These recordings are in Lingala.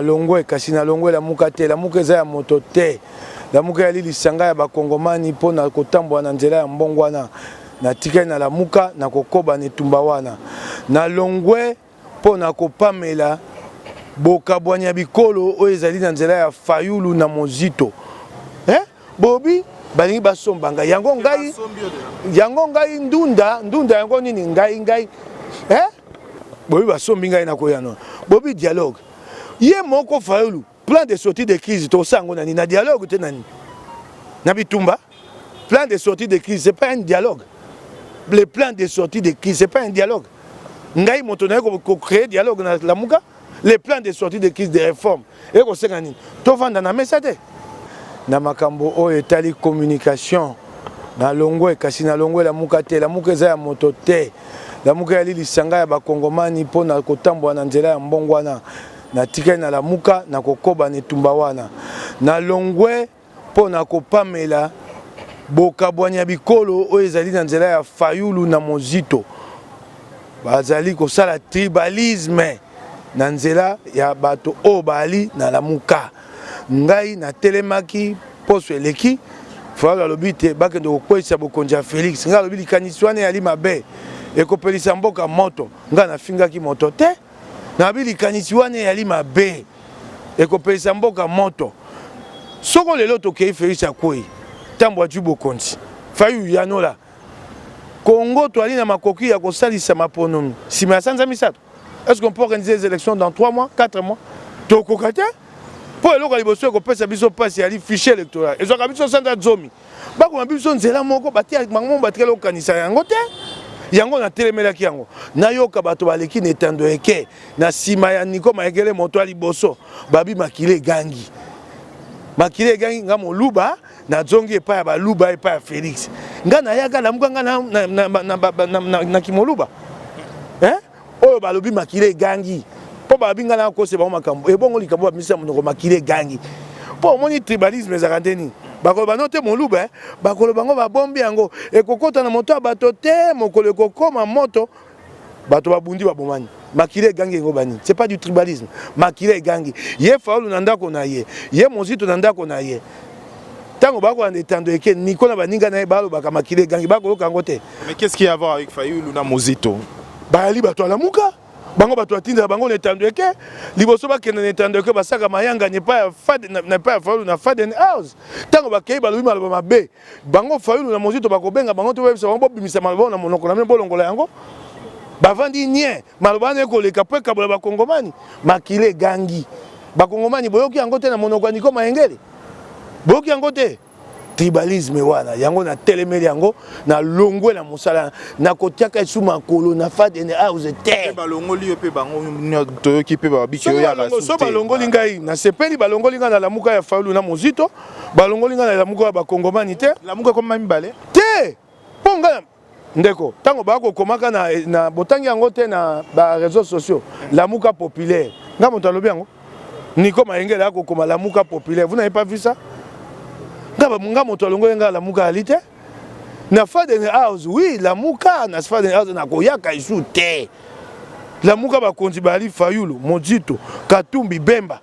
nalongwe kasi nalongwe lamuka te lamuka eza ya moto te lamuka eyali lisanga ya bakongomani mpo na kotambola na nzela ya mbongwana natikali na lamuka na kokoba na etumba wana nalongwe mpo na kopamela bokabwani ya bikolo oyo ezali na nzela ya Fayulu na Mozito eh? bobi balingi basomba ngai yango ngai yango ngai ndunda ndunda yango nini ngai ngai eh? bobi basombi ngai nakoyanola bobi dialogue ye moko Fayulu Plan de sortie de crise tokosala yango na nini? Na dialogue te na nini? Na bitumba? Plan de sortie de crise c'est pas un dialogue. Le plan de sortie de crise c'est pas un dialogue. Ngai moto naye ko créer dialogue na Lamuka, le plan de sortie de crise de réforme. Eko senga nini? Tovanda na mesa te. Na makambo oyo etali communication na longwe kasi na longwe Lamuka te. Lamuka eza ya moto te. Lamuka yali lisanga ya bakongomani mpo na kotambwa na nzela ya mbongwana. Natikali na Lamuka, nakokoba na etumba wana. Nalongwe mpo na kopamela bokabwani ya bikolo oyo ezali na nzela ya Fayulu na Mozito. Bazali kosala tribalisme na nzela ya bato oyo baali na Lamuka. Ngai natelemaki poso eleki Fayulu alobi te bakende kokweyisa bokonzi ya Felix. Ngai alobi likanisi wana eyali mabe, ekopelisa mboka moto. Ngai nafingaki moto te. nabi likanisi wana eyali mabe ekopelisa mboka moto soko lelo tokei felix akwei ntango ajui bokonzi fayu yanola congo toali na makoki ya kosalisa maponomi nsima ya sanza misato est ce qu'on peut organiser les élections dans 3 mois 4 mois tokoka te mpo eloko ya liboso ekopesa biso mpasi yali fichier électoral ezwaka biso sanza zomi bakoma biso nzela moko batia bango batikali kokanisa yango te yango natelemelaki yango nayoka bato baleki na etando eke na nsima ya niko mayekele moto ya liboso babi makila egangi makila egangi nga moluba nazongi epai ya baluba epai ya felix nga nayaka lamuka nga na, na, na, na, na, na, na, na kimoluba eh? oyo balobi makila egangi mpo balobi ngai nakosa bango makambo ebongo likambo bamisa monoko makila egangi mpo omoni tribalisme ezalaka nde nini bakoloba no te moluba eh. bakoloba yango babombi yango ekokota na moto ya bato te mokolo ekokoma moto bato babundi babomani makila egangi yango banini c'est pas du tribalisme makila egangi ye faulu na ndako na ye ye mozito na ndako na ye Tango ba kolanda etando eke Nico na baninga na ye balobaka makila egangi ba koyoka yango te. Mais qu'est-ce qui a voir avec Fayulu na Muzito? Bayali bato ya Lamuka. Bango bato atindela bango na etando eke liboso bakenda na etando eke basaka mayangani epai ya Fad na epai ya Fayulu na Faden House. Tango bakei balobi maloba mabe. Bango Fayulu na Muzito bakobenga bango te bayebisa bango bobimisa maloba oyo na monoko na bino bolongola yango. Bavandi nien. Maloba wana ekoleka po ekabola bakongomani. Makila egangi. Bakongomani boyoki yango te na monoko ya Nico Mayengele? boyoki yango te tribalisme wana yango na telemeli yango na longwe na mosala na kotiaka esu makolo na fadene house te balongoli yo mpe bango toyoki mpe babiki yo yaka so balongoli ngai nasepeli balongoli ngai na lamuka ya faulu na mozito balongoli ngai na lamuka ya bakongomani te lamuka ekoma mibale te mpo ngai ndeko ntango baya kokomaka na, na botangi yango te na bareseau sociaux lamuka populaire nga moto alobi yango niko mayengele ya kokoma lamuka populaire vous n'avez pas vu ça nga moto alongoli nga lamuka yali te na faden house oui lamuka na faden house nakoyaka esu te lamuka bakonzi bayali fayulu mozito katumbi bemba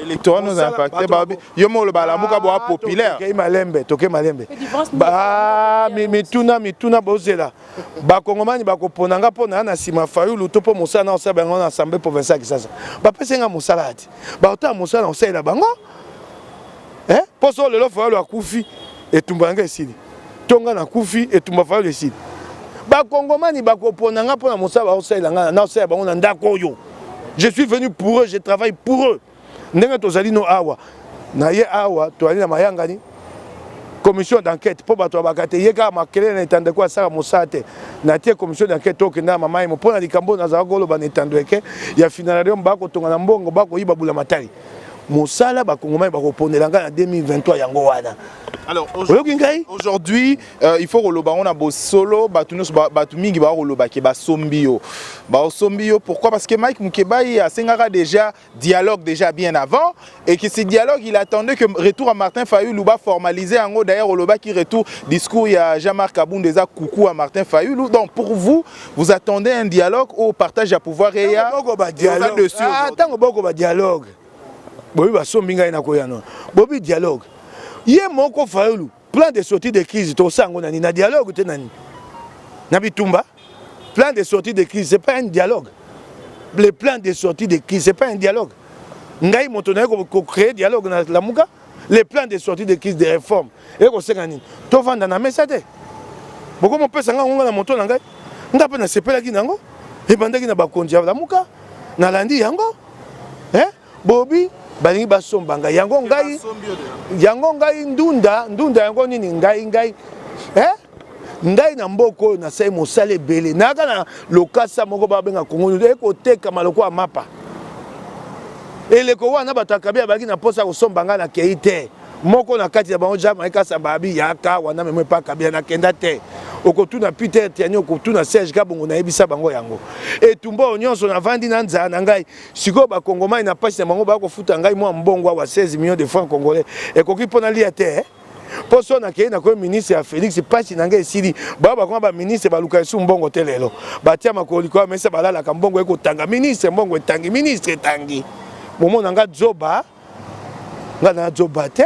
electorat nous impacté babi yo molo balamuka bo populaire kei malembe toke malembe ba mituna mituna bozela bakongomani bakopona nga mpo na ya na nsima fayulu to mpo mosala na osala bango na assemblée provinciale kisasa bapesi nga mosala ati bakotala mosala na kosalela bango mpo so lelo fayulu akufi etumba yanga esili to nga nakufi etumba fayulu esili bakongomani bakopona nga mpo na mosala bakosalela nga na osalela bango na ndako oyo je suis venu pour eux je travaille pour eux ndenge tozali no awa na ye awa toyali na mayangani commission d'enquête mpo bato babaka te ye kaka makelele na etando eko asala mosala te natie commission d'enquête tokenda na mamaimo mpo na likambo oyo nazalaki koloba na etando eke ya finalarium bakotonga na mbongo bakoyiba bula matali mosala bakongomani bakoponela ngai na 2023 yango wana oyoki ngai aujourd'hui Uh, il faut koloba yango na bosolo bato nyonso bato mingi bakoloba ke basombi yo basombi yo pourquoi parce que mike mukebayi asengaka déjà dialogue déjà bien avant et que ce dialogue il attendait que retour à martin fayulu baformalise yango d'ailleurs olobaki retour discours ya jean marc abund eza kuku ya martin fayulu donc pour vous vous attendez un dialogue au partage ya pouvoir eya ntango boko badialogue ah, bobi basombi ngai nakoya nono bobi dialogue ye moko fayulu Plan de sortie de crise tosa yango na nini? Na dialogue te na nini? Na bitumba? Plan de sortie de crise c'est pas un dialogue. Le plan de sortie de crise c'est pas un dialogue. Ngai moto na yeko ko créer dialogue na Lamuka. Le plan de sortie de crise de réforme. Eko senga nini? To vanda na mesa te. Boko mo pesa nga ngonga na moto na ngai. Nga pe na sepelaki nango. Ebandaki na bakonzi ya Lamuka. Nalandi yango. Eh? Bobi balingi basomba ngai yango ngai yango ngai ndunda ndunda yango nini ngai ngai eh? ngai na mboka oyo nasali mosala ebele nayaka na lokasa moko babenga kongo ekotekama lokola mapa eleko wana bato ya kabila bazalaki na mposa ya kosomba ngai nakei te moko na kati ya bango jean marie kasamba abi yaka wana memo epa kabila nakenda te okotuna peter tiani okotuna serge kabongo nayebisa bango yango etumba oyo nyonso navandi na nzala na ngai sikoyo bakongomani na mpasi na bango baya kofuta ngai mwa mbongo awa 16 millions de francs congolais ekoki mpo nalia te eh? mpo so nakei nakomi ministre ya félix mpasi na ngai esili baya bakoma baministre baluka esu mbongo te lelo batia makolo likolo ya mesa balalaka mbongo ekotanga ministre mbongo etangi ministre etangi bomona ngai zoba nga na zoba te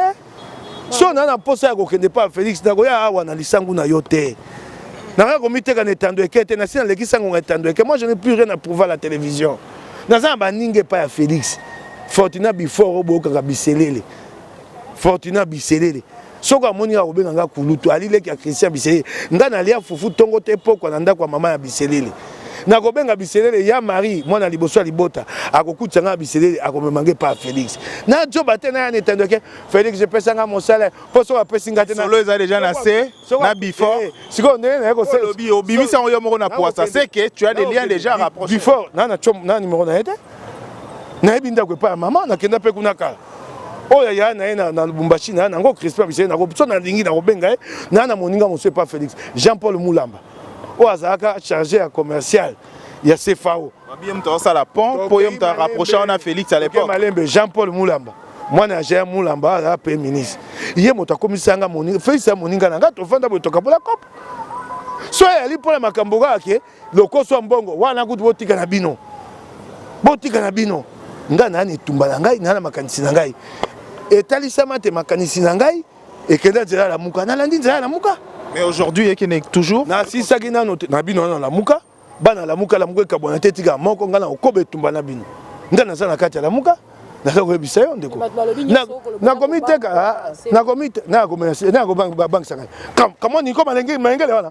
so na na posa ya kokende pa Felix na koya awa na lisangu na yo te nakoya komiteka na etando eke te nasi naleki sango na etando eke moi je n'ai plus rien à prouver à la télévision naza na baninga epai ya Felix Fortuna Bifort oboyokaka biselele Fortuna biselele soko amoni nga kobenga nga kulutu ali leki ya christian biselele nga nalia fufu tongo te pokwa na ndako ya mama ya biselele nakobenga biselele ya marie mwana liboso ya libota akokutisa nga biselele akomema nge pa felix najoba te naya na etando ke felix epesa nga mosala mpo soko apesi nga te solo eza deja na se na before eh, sikoyo ndenge naye kosolobi obimisi yango yo moko na pwasa seke tu as des liens deja rapproche before na na numero na ye te nayebi ndako epai ya mama nakenda mpe kuna kala oyo aya na ye na lubumbashi naya nango crispin bisee nako so nalingi nakobenga ye naya na moninga mosusu epa félix jean paul mulamba oyo azalaka chargé ya commercial ya cfao ye moto asala pont mpo ye moto arapproche wana félix à l'époque malembe jean paul mulamba mwana ya jean mulamba azala mpe ministre ye moto akomisanga moninga félix ya moninga na ngai tofanda boye tokabola kopo so ayali mpo na makambo kaka ke lokoso ya mbongo wana kutu botika na bino botika na bino ngai naa na etumba na ngai naa na makanisi na ngai etalisama te makanisi na ngai ekenda nzela ya lamuka nalandi nzela ya lamuka mais aujourd'hui ekende toujours nasisaki nano na bino wana lamuka bana lamuka lamuka ekabwana te etika moko ngai nakokoba etumba na bino ngai naza na kati ya lamuka naza koyebisa yo ndeko nakomiteka nakobangisaka kamo niko malengele wana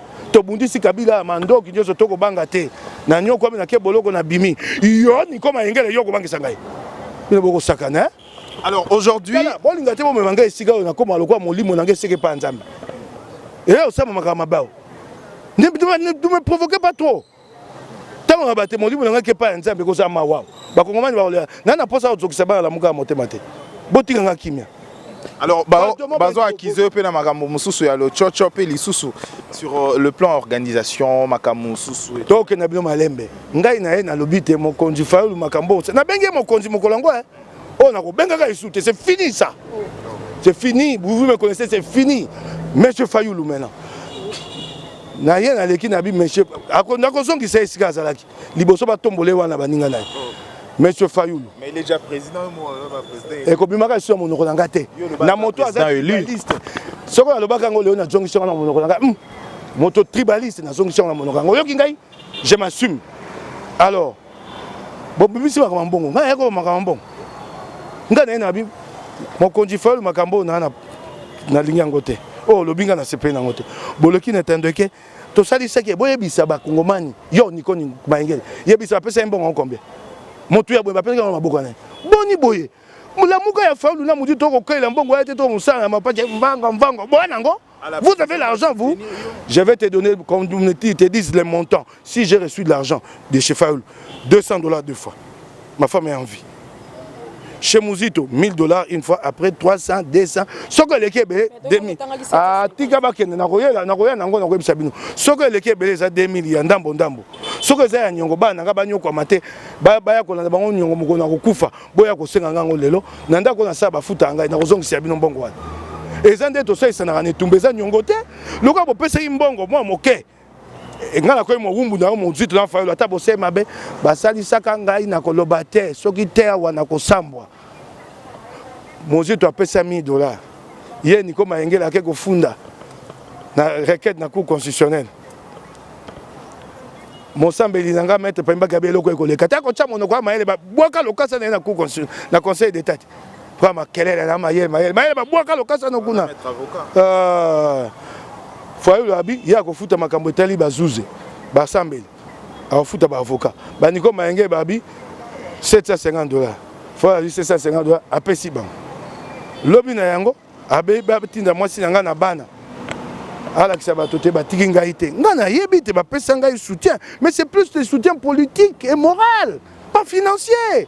tobundisi kabila ya mandoki nyonso tokobanga te na nyokwami na ke boloko na bimi yo niko mayengele yo okobangisa ngai bino bokosakana alors aujourd'hui bolinga te bomema ngai esika oyo nakoma lokola molimo na ngai eseke epa nzambe eya osama makambo mabao ne me provoquez pas trop ntango na bate molimo na ngai kepa ya nzambe ekozala mawa bakongomani bakolela ngai na mposa kozokisa bana lamuka ya motema te botika ngai kimia alors bazo akize yo mpe na makambo mosusu ya lococo mpe lisusu sur euh, le plan organisation makambo mosusu tokenda bino malembe ngai na ye nalobi te mokonzi fayulu makambo oyo nabengi ye mokonzi mokolo yango eh. oyo nakobengaka lisusu te c'est fini ça c'est fini vous me connaissez c'est fini monsieur fayulu maintenant na ye naleki na bi monsieur nakozongisa esika azalaki liboso batombole wana baninga na ye monsieur fayulu ekobimaka lisusu ya monoko na ngai te na moto aza tribaliste soko nalobaka yango leo nazongisi yango na monoko na ngai hmm. moto tribaliste nazongisi yango na monoko yango oyoki ngai je m'assume alors bobimisi makambo mbongo ngai nayekoba makambo mbongo ngai naye nabi mokonzi fayolu makambo oyo naa nalingi yango te oyo oh, olobi ngai nasepeli nango te boloki na etando eke tosalisaki boyebisa bakongomani yo niko mayengele yebisa bapesa ye mbongo yango combien motu ya boye bapesaki yango maboko na ye boni boye mulamuka ya faulu na mudi to kokelela mbongo ya te to mosala na mapache mvango mvango boya nango Vous avez l'argent, vous Je vais te donner, comme ils te disent les montants. Si j'ai reçu de l'argent de chez Faoul, 200 dollars deux fois. Ma femme est en vie. Chez Mouzito, 1000 dollars une fois, après 300, 200. Ce que les Kébé, 2000. Ah, tika bakende, na roya, na roya, na ngona, roya, sabino. Ce que les Kébé, les a 2000, ya ndambo, ndambo. Ce que les a nyongo, ba, na ba nyoko, mate, ba, ba, ya, kolanda, ba, nyongo, mokona, kokufa. boya kosenga ngai yango lelo na ndako oyo nasala bafuta ya ngai nakozongisa ya bino mbongo wana eza nde tosalisanaka na etumba eza nyongo te lokola bopesaki mbongo mwa moke eh, ngai nakoki mowumbu na yo mozito na fayolo ata bosei mabe basalisaka ngai na koloba te soki te awa nakosambwa mozito apesa 1000 dollars ye niko mayengela ake kofunda na requête na cour constitutionnelle mosambeli na ngai maître pambi bakabi eloko ye koleka te akotya monoko ya mayele babwaka lokasa na ye na conseil d'état te mpo makelele na mayele mayele mayele babwaka lokasa na kuna euh, fayulu abi ye akofuta makambo etali bazuze basambeli akofuta baavocat baniko mayenge babi 750 dollars fayulu abi 750 dollars apesi bango lobi na yango abe batinda mwasi na ngai na bana alakisa bato te batiki ngai te ngai nayebi te bapesa ngai soutien mais c'est plus de soutien politique et moral pas financier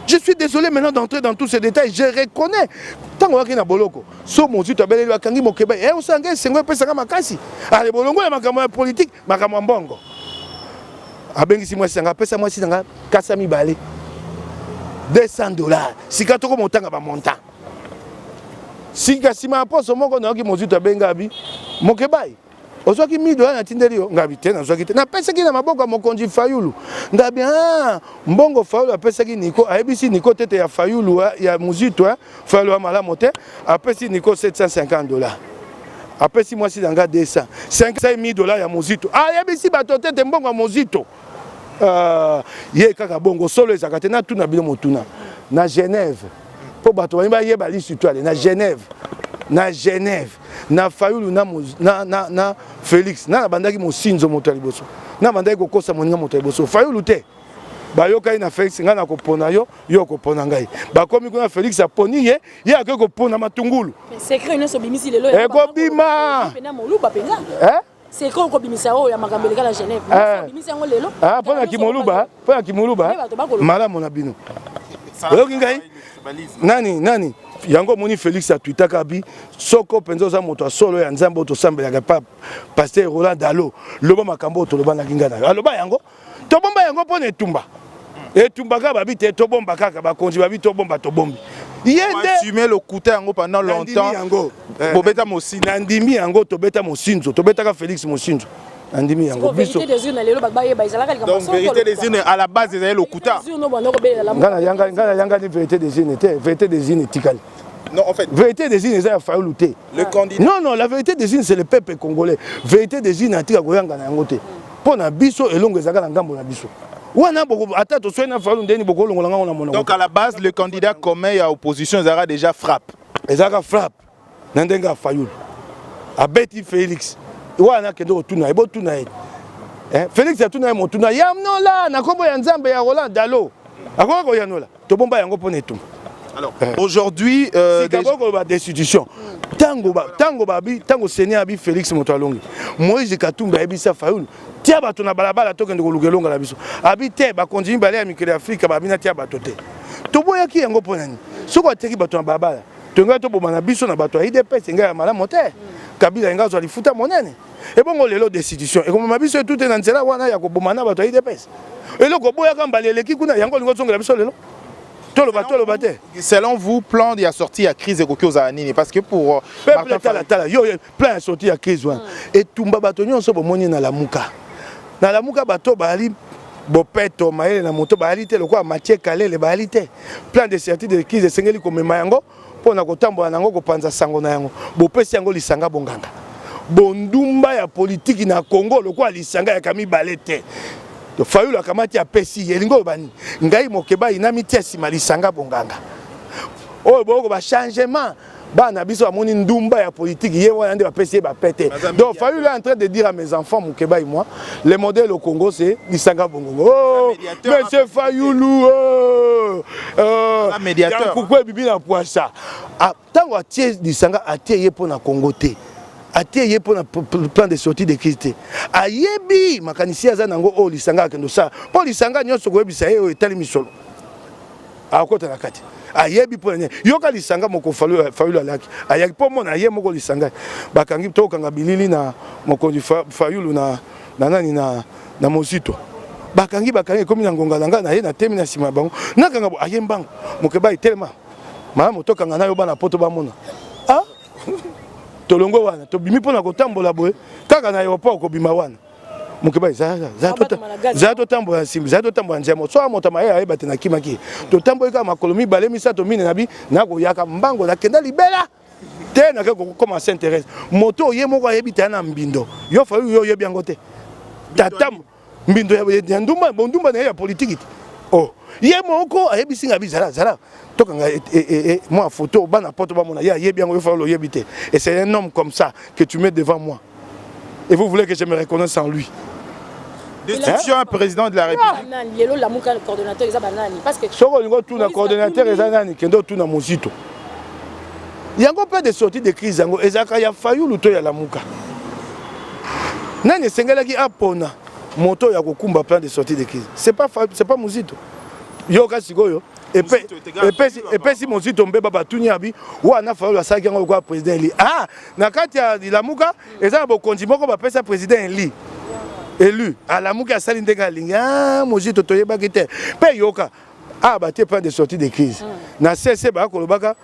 je suis désolé maintenant d'entrer dans tous ces détails je reconnais ntango oyaki na boloko so mozito abeleli akangi mokeba e eh, osala ngai esengo epesaka makasi ale bolongo ya makambo ya politike makambo ya mbongo abengisi mwasi na ngai apesa mwasi na ngai kasa mibale 200 dollars sika toko motanga bamontant sika nsima ya poso moko nayoki mozito abenga abi mokebai ozwaki mi dola natindeli yo ngabi te nazwaki te napesaki na maboko ya mokonzi fayulu ngabi ah, mbongo fayulu apesaki niko ayebisi niko tete ya fayulu eh, ya mozito eh, fayulu ya malamu te apesi niko 750 dola apesi mwasi na nga 200 5 dola ya mozito ayebisi bato te te mbongo ya mozito Euh, ye kaka bongo solo ezalaka te natuna bino motuna na genève mpo bato bani bayeba lisituale na genève na genève na fayulu na, na, na, na félix na nabandaki mosinzo moto ya liboso nabandaki kokosa moninga moto ya liboso fayulu te bayokaki na félix ngai nakopona yo yo okopona ngai bakomi kuna félix aponi ye ye akoki kopona matungulu ekobima C'est quand on bimisa oyo ya makambo eleka na Genève. Eh. Bimisa yango lelo. Ah, pona kimoluba, pona kimoluba. Malamu na bino. Oyoki ngai? Nani, nani? yango omoni félix atwitaka bi soko mpenza oza moto ya solo ya nzambe oyo tosambelaka pa paster roland dalo loba makambo oyo tolobanaki ngai nayo aloba yango tobomba yango mpo na etumba etumba kaka babi te tobomba kaka bakonzi babi tobomba tobombi ye nde lokuta yango pendant longtemps yango eh, bobeta mosinzo nandimi yango tobeta mosinzo tobetaka Felix mosinzo nandimi yango biso donc vérité des urnes à la base ezali lokuta nga na yanga nga na yanga ni vérité des urnes te vérité des urnes etikali Non, en fait. Vérité des îles, ça a fallu lutter. Le candidat. Non, non, la vérité des îles, c'est le peuple congolais. Vérité des îles, n'a-t-il à Goyanga, n'a-t-il Mpo na biso elongo ezalaka na ngambo na biso wana boko ata toswani na faulu ndeni bokolongola ngango na monoko donc à la base le candidat commun ya opposition ezalaka déjà frappe ezalaka frappe na ndenge ya fayulu abeti félix wana akende kotuna ye botuna ye eh, félix atuna ye motuna yamnola na nkombo ya nzambe ya roland dalo akoki koyanola tobomba yango mpo na etumba Alors, eh. aujourd'hui euh, sikako koloba destitution tango ba tango ba bi tango seni abi Félix moto alongi Moïse Katumbi abi sa Fayulu tia bato na balabala tokende koluka elonga na biso abi te bakonzi mibale ya mikili ya Afrika babi na tia bato te toboyaki yango mpo na nini soki atiaki bato na balabala tolingai toboma na biso na bato ya idps engai ya malamu te kabila engai azwa lifuta monene ebongo lelo destitution ekomema biso etute na nzela wana ya koboma na bato ya idps eloko oboyaka mbala eleki kuna yango olingi ozongela biso lelo toloba toloba te selon vous plan ya sortie ya crise ekoki ozala nini parce que pour euh, peuple tala tala yo plan ya sortie ya crise wana hmm. etumba bato nyonso bomoni na lamuka na lamuka bato bayali bopeto mayele na moto bayali te lokola matie kalele bayali te plan de certitude de crise esengeli komema yango mpo na kotambola na yango, kopanza sango na yango, bopesi yango lisanga bonganga. Bondumba ya politiki na Congo lokola lisanga yaka mibale te. Fayulu akamati apesi ye elingi oloba nini? Ngai Mokebayi namitia nsima lisanga bonganga oyo boyoko ba changement bana biso bamoni ndumba ya politiki ye wana nde bapesi ye bapete donc Fayulu est en train de dire à mes enfants Mokebayi moi Le modèle au Congo, c'est Nisanga Bongongo. Oh, Monsieur Fayoulou, oh, euh, un médiateur. Pourquoi Bibi n'a pas ça ah, Tant que Thier Nisanga a Thier pour la Congo, atie ye mpo na plan de sortie de crise te ayebi makanisi aza nango oyo lisanga akende osala mpo lisanga nyonso koyebisa ye oyo etali misolo akokota na kati ayebi mpo na nini yoka lisanga moko fayulu alaki ayaki mpo mona ye moko lisanga bakangi tokanga bilili na mokonzi fayulu na, na nani na, na mozito bakangi bakangi ekomi na ngonga na ngai na ye na temi na nsima ya bango nakanga bo aye mbango mokeba etelema malamu tokanga nayo bana poto bamona ah? tolongwe wana tobimi mpo na kotambola boye kaka na aéroport kobima wana mokeba ezala totambola na nsima ezala totambola nzela moko soki moto mayele ayeba te nakimaki totamboli kaka makolo mibale misato mine na bi nakoyaka mbango nakenda libela te nake kokoma saint thérèse moto oye moko ayebi taya na mbindo yo fayu yo oyebi yango te tata mbindo ya ndumba bondumba na ye ya politiki te oh ye moko ayebisi ngai bizala zala tokanga e, e, e, mwa foto bana poto bamona ye ayebi yango yo fayolo oyebi te et c'est un homme comme ça que tu mets devant moi et vous voulez que je me reconnaisse en lui destitution ya président de la république ah, lelo lamuka coordonnateur eza banani parce que soki olingi otuna coordonnateur eza nani kende otuna mozito yango mpe de sortie de crise yango ezalaka ya fayulu to ya lamuka nani esengelaki apona moto ya kokumba plan de sortie de crise c'est pas, pas mozito yoka sikoyo epesi mozito mbeba batuni ya bi wana fayolo asalaki yango lokola président eli ah na kati ya lilamuka eza na bokonzi moko bapesa président eli elu alamuki asali ndenge alingi ah mozito toyebaki te mpe yoka ah batie plan de sortie de crise na sese bakolobaka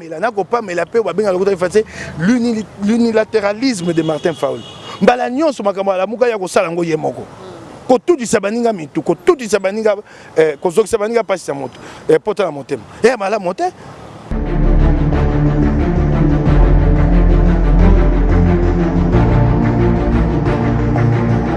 kopamela na kopamela mpe babengaka lokuta efase l'unilateralisme de martin faul mbala nyonso makambo alamuka ya kosala yango ye moko kotutisa baninga mitu kotutisa baninga eh, kozokisa baninga mpasi ya moto eh, pota na motema eya eh, malamu te